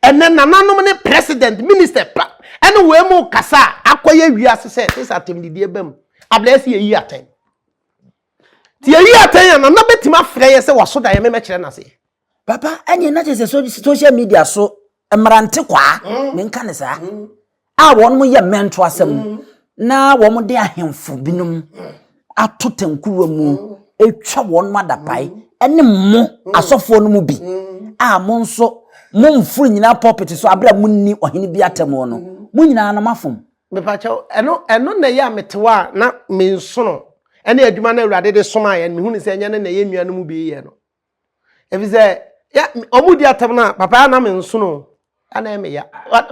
ɛnɛ nananom ne president, minister pa ɛne wɔn mu kasa a akɔyɛ wiase sɛ sɛ atɛmdidie bam abla ɛsɛ yɛyi atɛn. Nti yɛyi atɛn a nana bɛtumi afrɛ yɛ sɛ waso da yɛ me mɛkyerɛ no aseɛ. Papa, ɛneɛ na kyerɛ sɛ social media so mmerante kwaa, mm. menka ne saa, mm. a wɔn mo yɛ mmɛnto asɛm mm. na wɔn mo de ahemfo binom ato tankuruwa mu atwa wɔn mo adapae ɛne mo asɔfoɔ no mu bi a mo nso mo mforo nyinaa pulpit so abira mo nni ɔhene bi atɛmɔ no mo nyinaa no mafom. mepakyɛw ɛno ɛno na ɛyɛ a metewa a na mensono ɛne adwuma no awurade de somaeɛ no mehu ne sɛ ɛnyɛ no na ɛyɛ nnua no mu bi yɛ no Ebi sɛ ya ɔmo di atam na papa ya na me nsono ya na ɛmɛ ya.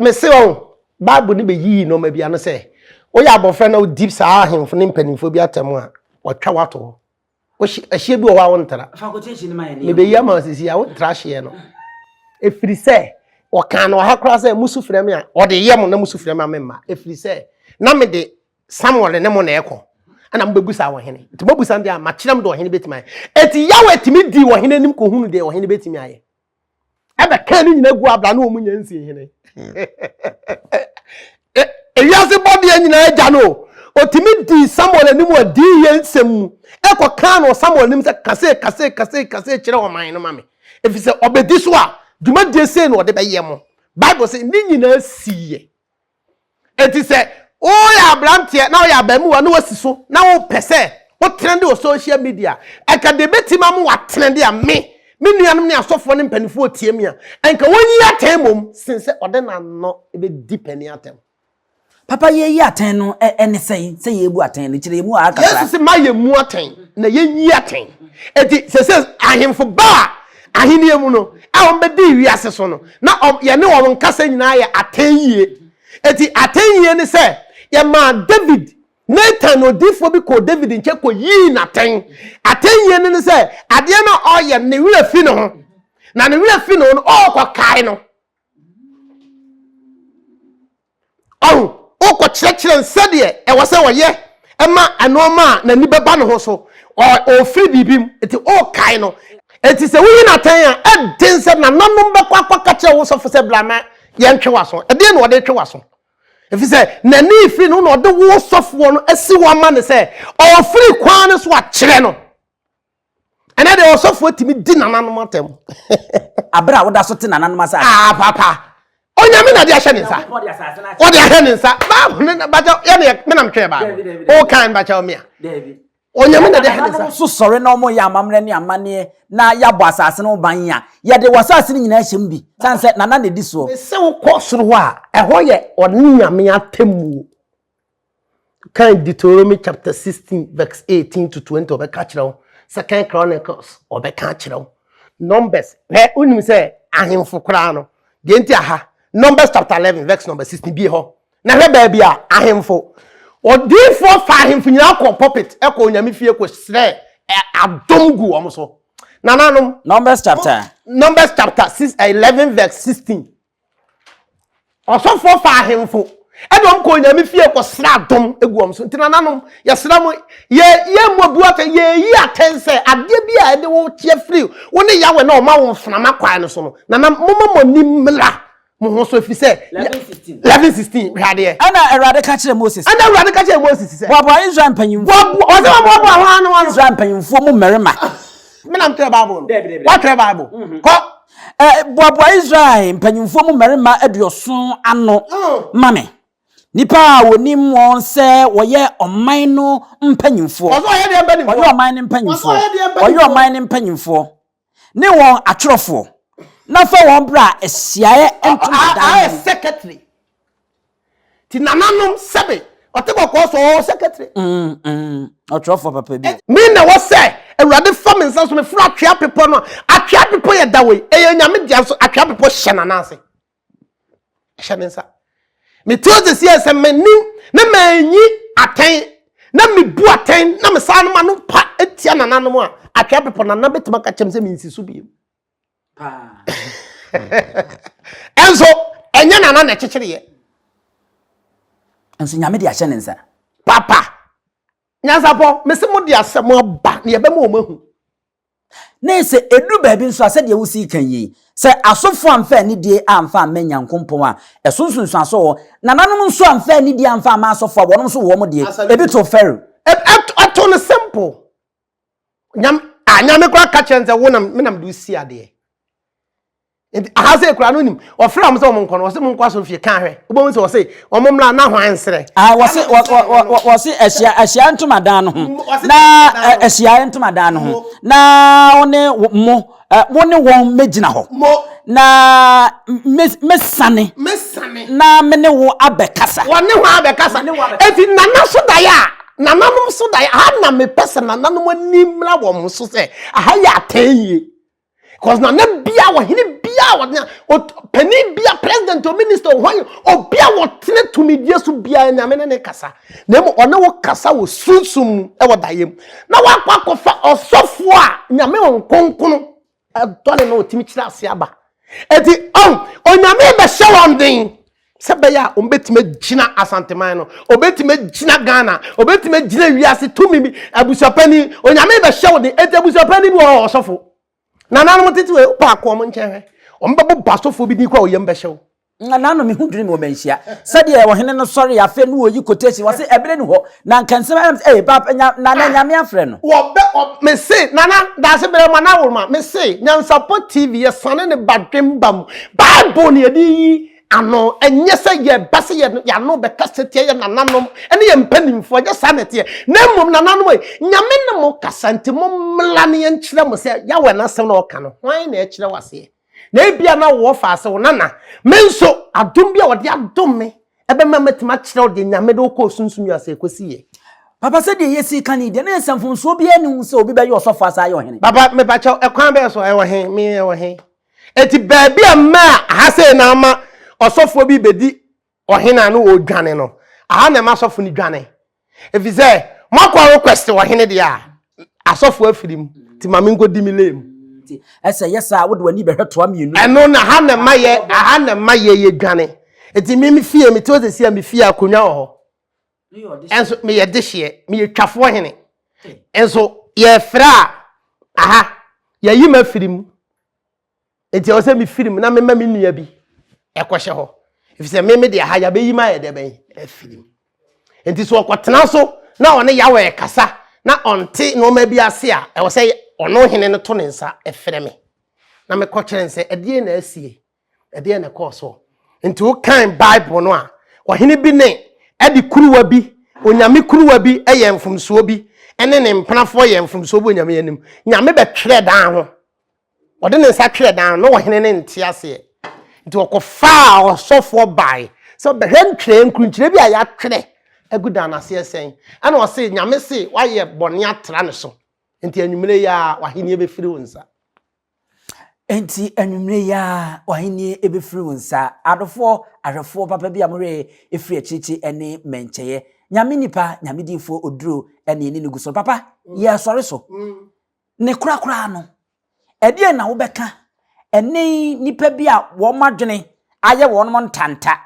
Me se wɔn baabu ne bɛ yiyi nɔɔma bi ano sɛ woyɛ abɔfra na odi saa ahemfo ne mpanimfoɔ bi atam a wɔtwa wato hɔ. Wohye ɛhyeɛ bi wɔ hɔ a wontra. Me bɛ yi ama sisi a wontra hyeɛ no. Efiri sɛ wɔkaa no wɔ ha koraa sɛ musu frɛ me a wɔde yɛ mo na musu frɛ me a memma. Efiri sɛ na me de samuel ne mo na ɛkɔ ɛna mobɛbusa wɔ hene nti mobusa no deɛ a makyerɛ m deɛ ɔhene bɛtumi ayɛ ɛti yawe tumi dii ɔhene anim kɔhunu deɛ ɔhene bɛtumi ayɛ ɛbɛka no nyina gu abra ne ɔmu nya nsie hene ewiase bɔdeɛ nyinaa agya no ɔtumi dii samuel anim wɔ dii yɛ nsɛm mu ɛkɔ kaa no samuel anim sɛ kase kase kase kase kyerɛ ɔman no ma me ɛfiri sɛ ɔbɛdi so a dwumadie sei na ɔde bɛyɛ mo bible sɛ ne nyinaa siiɛ Enti sɛ woyɛ aberanteɛ na woyɛ abarimaa na woasi so na wopɛ sɛ wotrɛnde wɔ social media a, anka deɛ ɛbɛtumi ama woatrɛnde a me, me nuanom ne asɔfoɔ ne mpanimfoɔ tie me a, anka wɔnyi atɛn mmom sen sɛ wɔde no ano bɛdi panin atɛm. Papa, yɛyi atɛn no ne sɛn? Sɛ yɛrebu atɛn no, kyerɛ yɛmu haa kakra. Yesu se ma yɛmmu atɛn na yɛnyi atɛn. Enti seesei ahemfo ba a Ahenni mu no, a wɔbɛdii wiase so no, na yɛne wɔn nkasa nyinaa yɛ atɛn yie. Enti atɛn yie ne sɛ yɛmaa David, Natan odiyifoɔ bi kɔɔ David nkyɛn kɔyii no atɛn. Atɛn yie no ne sɛ adeɛ no a ɔreyɛ no, ne werɛ fi ne ho. Na ne werɛ fi ne ho no, ɔrekɔkae no. Ɔho, wokɔkyerɛkyerɛ no sɛdeɛ ɛwɔ sɛ ɔyɛ ma nnoɔma a n'ani bɛba ne ho so, ɔrefiri biribi mu, nti wokae no. Enti sɛ woyi no atɛn a, ɛden sɛ nananom bɛkɔ akɔka kyerɛ wo sɔfo sɛ bra na yɛntwe w'aso. Ɛdeɛn na ɔde retwe w'aso? Ɛfiri sɛ n'ani refiri ne ho na ɔde wo sɔfoɔ no asi hɔ ama no sɛ ɔrefiri kwan no so akyerɛ no. Ɛnɛ deɛ ɔsɔfoɔ tumi di nananom atɛm. Abere a woda so te nananom asase. Aa ah, papa. Onyame na de ahyɛ ne nsa. Ɔde ahyɛ ne nsa. Baabu ne na bakyɛ yɛ ne me nam twɛɛ baabu. O kan bakyɛ ɔmea. Onyame na de ahyɛ ne nsa. So sɔre na ɔmo yɛ amammerɛ ne amanneɛ na yɛabɔ asase no ban a yɛde wɔ asase no nyinaa hyɛm bi. San sɛ nana na edi soɔ. Sɛ wokɔ soro hɔ a ɛhɔ yɛ ɔne Nyame atemmuo. Kan Deuteronomy chapter 16 verse 18 to 20 ɔbɛka akyerɛ wo. Second Chronicles ɔbɛka akyerɛ wo. Numbers na wonim sɛ ahemfo koraa no deɛ nti aha Numbers chapter 11 verse number 16 bie hɔ na hwɛ baabi a ahemfo odiifoɔ fa ahemfo nyinaa kɔ pulpit ɛkɔ onyame fie kɔ srɛ adom gu wɔn so nananom. Numbers chapter. Numbers chapter 11 verse 16. Ɔsɔfoɔ faa ahemfo ɛna wɔn kɔɔ Nyame fie kɔsrɛ adom gu wɔn so. Nti nananom, yɛsrɛ mo, yɛ yɛ mmɔ bu atɛn, yɛyi atɛn sɛ adeɛ bi a ɛde wo teɛ firi wo ne Yahweh na ɔma wo mframa kwan no so no, nanam momma mo ani mmra mo ho so, ɛfiri sɛ, Eleven sixteen. Eleven sixteen, hwɛ adeɛ. Ɛna Awurade ka kyerɛɛ Mose sɛ. Ɛna Awurade ka kyerɛɛ Mose sɛ. Boaboa Israel mpanyimfoɔ. Boaboa, ɔsɛ wɔboaboa hwan ne hwan? Israel mpanyimfoɔ mu mmarima. Menam twerɛ Bible no. Daabi, daabi, daabi. Woatwerɛ Bible? Kɔ. Boaboa Israel mpanyimfoɔ mu mmarima aduɔson ano ma me, nnipa a wɔnim wɔn sɛ wɔyɛ ɔman no mpanyimfoɔ. Ɔsɛ ɔyɛ deɛ mpanyimfoɔ. Ɔyɛ ɔman no mpanyimfoɔ. Ɔsɛ ɔyɛ deɛ mpanyimfoɔ. Ɔyɛ ɔman no mpanyimfoɔ ne wɔn atwerɛfoɔ na fa wɔn bra ahyiaeɛ ntomadan mu. Ayɛ secretary. ti nananom sɛbe ɔte kɔkɔɔ so ɔwɔ sɛkɛtire. ɔtwerɛfoɔ papa bi. me na ɛwɔ sɛ awurade fa me nsa so meforo atwea bepɔ no a atwea bepɔ yɛ da wei ɛyɛ nyame dea nso atwea bepɔ hyɛ nana ase hyɛ ne nsa mete hɔ sɛsi a sɛ m'anim na manyi atɛn na mebu atɛn na mesaa no ma no pa atia nananom a atwea bepɔ nana bɛtumi aka kyɛm sɛ mensi so biem ɛnso ɛnyɛ nana na ɛkyekyereɛ nso nyame de ahyɛ ne nsa papa nyansapɔ mese mo de asɛm aba ne yɛbɛma wɔn ahu ne sɛ ɛduru baabi nso a sɛdeɛ wosi ka yi sɛ asɔfoɔ amfa anidie amfa amma nyankompɔn a ɛso nsunsuaso wɔ nananom nso amfa anidie amfa amma asɔfoɔ a wɔnom nso wɔm deɛ ɛbi to fɛro ɛto no simple nyam a nyame kora ka kyerɛ sɛ wonam menam de si adeɛ nti aha sɛ kura no nim ɔfrɛ wɔn sɛ wɔn nkɔ no wɔsɛ mo nkɔ asomfie ka ahwɛ wobɛhu sɛ wɔsɛ wɔn mmra na hwan nsrɛ ah, wɔse wɔse ahyia ahyia ntomadan no ho na ahyia ntomadan no ho na wo ne mo Wo ne wɔn mmegyina hɔ. Na mɛsiane. Na me ne wo abɛkasa. Wɔne wɔn abɛkasa. Eti nana so daeɛ a nananom so daeɛ aha na mepɛ sɛ nananom ani mmra wɔn so sɛ aha yɛ atɛn yie. Cause nana bia ɔhene bia ɔne panin bia president o minister o hwan obi a wɔtene tumidie so bia nyame ne ne kasa. na mmom ɔne wo kasa wɔ sunsum mu wɔ daeɛ mu na wakɔ akɔfa ɔsɔfoɔ a nyame nkonkono ɛdɔ ne na ɔtumi kyerɛ ase aba ɛti ɔn onyame bɛhyɛ wɔn den sɛ bɛyɛ a ɔmbɛtumi agyina asanteman no ɔbɛtumi agyina ghana ɔbɛtumi agyina wiase tumi bi abusuapani onyame bɛhyɛ wo den ɛti abusuapani bi wɔ ɔsɔfo Nananom tete wei wopɛ akɔ wɔn nkyɛn hwɛ. Wɔn bɛbɔ basɔfoɔ bi din kɔ a oyam bɛhyɛ wo. Nananom mehu dwene me wɔ manhyia. Sɛdeɛ ɔhene no sɔre afei no wɔyi quotation wɔse ɛberɛ ni hɔ na nka nsɛm ayɛ me ee papa nya nana nyame afrɛ no. Wɔbɛ ɔ mese nana daase berɛ ma na worema mese nyansapɔ TV yɛsane ne badwemba mu bible ne yɛde yi ano ɛnyɛ sɛ yɛba sɛ yɛano bɛkasa tia yɛ nananom ne yɛ mpanimfoɔ ɛnyɛ saa na ɛteɛ na mmom nananom yi nyame ne mo kasa nti mo mmla ne yɛnkyerɛ mo sɛ yawɛ no asɛm na ɔka no hwan na ɛkyerɛ waseɛ na ebia na wɔ fa ase wo nana me nso adom bi a wɔde adom me ɛbɛma matumi akyerɛ wo deɛ nyame de wokɔ sunsum yi ase ɛkɔsi yɛ papa sɛ deɛ yɛsi ka ne deɛ na ɛsɛ mfomsoɔ biara ne ho sɛ obi bɛyɛ ɔsɔfoɔ asa ayɛ ɔhene papa mepakyɛw ɛkwan bɛɛ so ɛwɔ he me ɛwɔ he Enti baabi a mmaa aha sei na ama ɔsɔfoɔ bi bɛdi ɔhene a na ɔredwane no, aha na ɛma asɔfo no dwane. Ɛfiri sɛ moakɔ a request ɔhene deɛ a, asɔfo afiri mu. Nti ma menkɔdi me lane mu. Nti ɛsɛ yɛ saa wode w'ani bɛhwɛ toa mmienu. Ɛno no aha na ɛma yɛ aha na ɛma yɛ yɛdwane. Nti me me fie mete hɔ seesei a me fie akonnwa wɔ hɔ. nso meyɛ dehyeɛ meyɛ twafoɔ hene nso yɛfrɛ a aha yɛyi ma firi mu nti ɛwɔ sɛ mefiri mu na mema me nua bi ɛkɔhyɛ hɔ ɛfiri sɛ meme de aha yɛabɛyi ma ayɛ dɛ bɛn afiri mu nti so ɔkɔtena so na ɔne yawɔ ɛkasa na ɔnte nneɛma bi ase a ɛwɔ sɛ ɔno hene no to ne nsa ɛfrɛ me na mekɔkyerɛ ne sɛ ɛdeɛ na asie ɛdeɛ na ɛkɔɔ soɔ nti wokan bible no a ɔhene bi ne ɛde kuruwa bi onyame kuruwa bi ɛyɛ mfomsoɔ bi ɛne ne mpenafoɔ yɛ mfomsoɔ bi onyame anim nyame bɛtwerɛ dan ho ɔde ne nsa twerɛ dan no ɔhene ne nte aseɛ nti ɔkɔfaa ɔsɔfoɔ bae sɛ ɔbɛhwɛ ntwerɛ nkurunkyerɛ bi a yɛatwerɛ agu dan no aseɛ sɛn ɛna ɔse nyame se wayɛ bɔne atra ne so nti anwummerɛ yi a w'ahenniɛ bɛfiri wo nsa Enti anwummerɛ yi ara w'ahennie bɛfiri wo nsa. Adofoɔ, ahwɛfoɔ papa bi a mo werɛ firi akyirikyiri ne mmɛnkyɛeɛ. Nyame nipa, Nyame diyifoɔ Oduro ne ne nugu so no, papa, yɛresɔre so. Ne korakoraa no, ɛdeɛn na wobɛka ɛne nipa bi a wɔn adwene ayɛ wɔn ntanta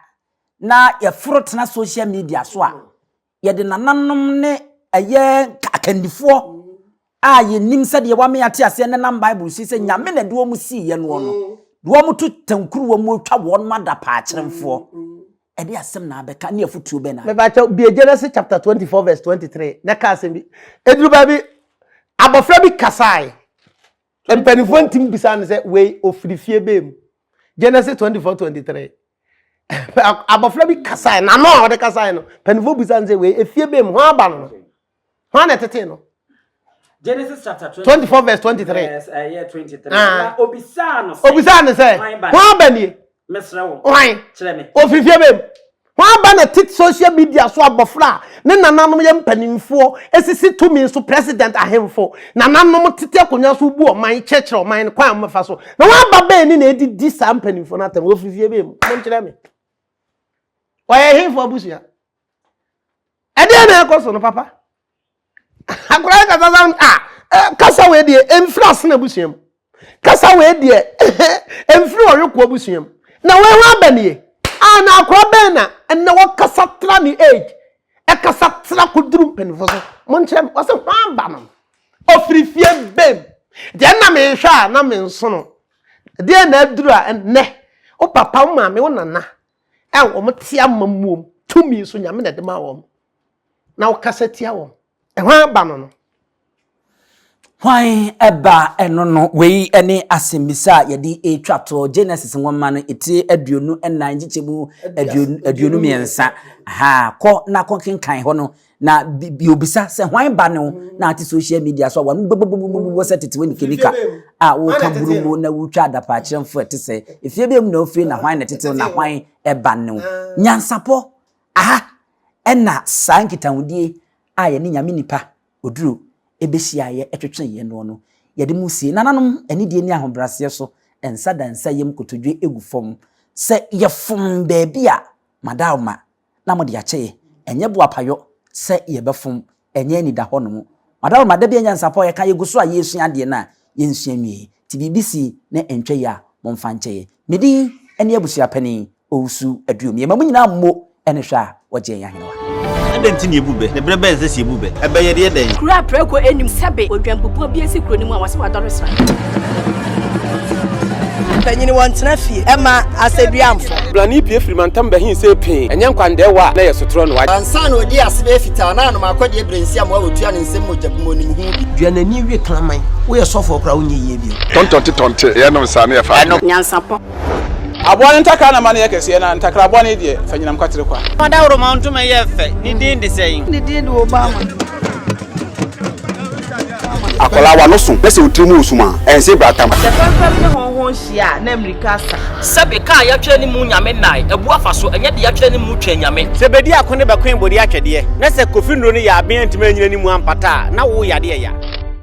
na yɛforo tena social media so a Yɛde nananom ne ɛyɛ akandifoɔ a yɛnim sɛdeɛ wɔame ate aseɛ no nam Bible si sɛ Nyame na ɛde wɔn siiɛ noɔ no, de wɔn to tankuruwa mu twa wɔn adapaa kyerɛmfoɔ. Ɛde asɛm na abɛka ne afotuo bɛn na? Mepakyɛw, bue Genesis chapter 24 verse 23 na ka asɛm bi. Ɛduru baabi, abɔfra bi kasae. Mpanimfoɔ ntumi bisa no sɛ wei ofiri fie bɛɛ mu. Genesis twenty four twenty three. Abɔfra bi kasae n'ano a ɔde kasae no mpanimfoɔ bisa no sɛ wei efie bɛɛ mu ho aba no ho ana ɛtetee no. Genesis chapter twenty four verse twenty three. Ɛyɛ eh, twenty three. Ah. Obisaa no sɛ. Obisaa no sɛ ho aba nie. Mesrɛ wo, Hwan? kyerɛ me. Ɔfiri fie bɛn mu? Hwan aba na tit social media so abɔfra a ne nananom yɛ mpanimfoɔ sisi tumi so president ahemfo nananom tete akonnwa so bu ɔman kyerɛkyerɛ ɔman no kwan a wɔbɛfa so na wɔn aba bɛn ne na ɛdi di saa mpanimfoɔ no atɛm ɔfiri fie bɛn mu monkyerɛ me ɔyɛ hemfo abusua ɛdeɛ na ɛkɔ so no papa Akwadaa kasa sa a eh, kasa wei deɛ ɛmfiri asena abusua mu kasa wei deɛ ɛmfiri ɔwekoɔ abusua mu na wei ho aba nie a na akwadaa bɛn na ɛnna wɔkasa tra ne age ɛkasa tra koduru mpanimfoɔ so monkyerɛ me wɔsɛ ho aba no ɔfiri fie bɛm deɛ na mehwɛ a na me nsono deɛ na aduru a ɛnnɛ wo papa wo maame wo nana a wɔn te ama muom tumi so nyame na ɛde ma wɔn na wokasa tia wɔn. Hwan ba no no? Hwan ba no no? Wei ne asɛmmisa a yɛde retwa to Genesis nwoma no etire aduonu nnan nkyekyɛ mu aduonu mmiɛnsa. Ha kɔ na kɔkenkan hɔ no na biobisa sɛ hwan ba no na ate social media so a wɔn bobobobobobɔ sɛ tete wɔn nikenika a wɔka burumu na wotwa adapaakyerɛmfo ɛte sɛ efie bɛn mu na ofiri na hwan na tete na hwan ba no nyansapɔ Aha na saa nkitahodie a yɛne Nyame nipa oduro bɛhyiaeɛ twetweeɛ noɔ no, yɛde mo sie. Nananom, anidie ne ahobrɛaseɛ so nsa da nsa yam kotodwe gu fam sɛ yɛfom baabi a, madaoma na mode akyɛeɛ. Ɛnyɛ boapayɔ sɛ yɛbɛfom Ɛnyɛ anida hɔnom. Madaworoma, da bi a nyansapɔ a yɛka yɛgu so a yɛresua adeɛ no a, yɛnsua nwieɛ. Nti biribi si na ɛntwa yi a, momfa nkyɛ yɛn. Me din ne Abusua Panin Owusu Aduom. Yɛma mo nyinaa mmo ne hwɛ a wɔgye yɛn ahenewa. Adɛn nti na yɛbu bɛ? Ne berɛ bɛn sɛ sɛ yɛbu bɛ? Ɛbɛyɛ deɛ dɛn? Kuro a prɛko nnim sɛbe odwanpupuo bi asi kuro no mu a wɔse wadɔre sra. Mpanyini wɔntena fie mma asɛduamfo. Brane pue firi mantam bɛhe sei pee, ɛnyɛ nkwandaɛwa a na ɛyɛ sotorɔ no. Ansa na ɔdii ase bɛyɛ fitaa no, a na m'akɔdeɛ berɛ nsi amoa ɔtua ne nsam mogya bu mu ɔnim ho bi. Dua n'ani we kraman. Woyɛ sɔfoɔ koraa a wonyɛ yie bio. Tɔntɔnte tɔnte, yɛ nom saa na yɛ fa adeɛ. Nyansapɔ. Aboa no ntakra na ma no yɛ kɛseɛ na ntakra aboa no yi deɛ fa nyinam kwatere kwa. Fa daworomaw ntoma yɛ fɛ, ne din de sɛn? Ne din de Obama. Akwadaa wa no so na sɛ otiri mu wɔ sum a, ɛnse bra tam. Sɛ fɛmfɛm ne hɔnhɔn hyia a, na mmirika asa. Sɛbe kaa yɛatwerɛ ne mu Nyame nnae, abu afa so, ɛnyɛ de yɛatwerɛ ne mu Twɛn Nyame. Sɛ bedi ako ne bɛkoe bode atwɛdeɛ, na sɛ Kofi Nnuro no yɛ aben antumi anyina ne mu ampata a, na wo yade ɛya.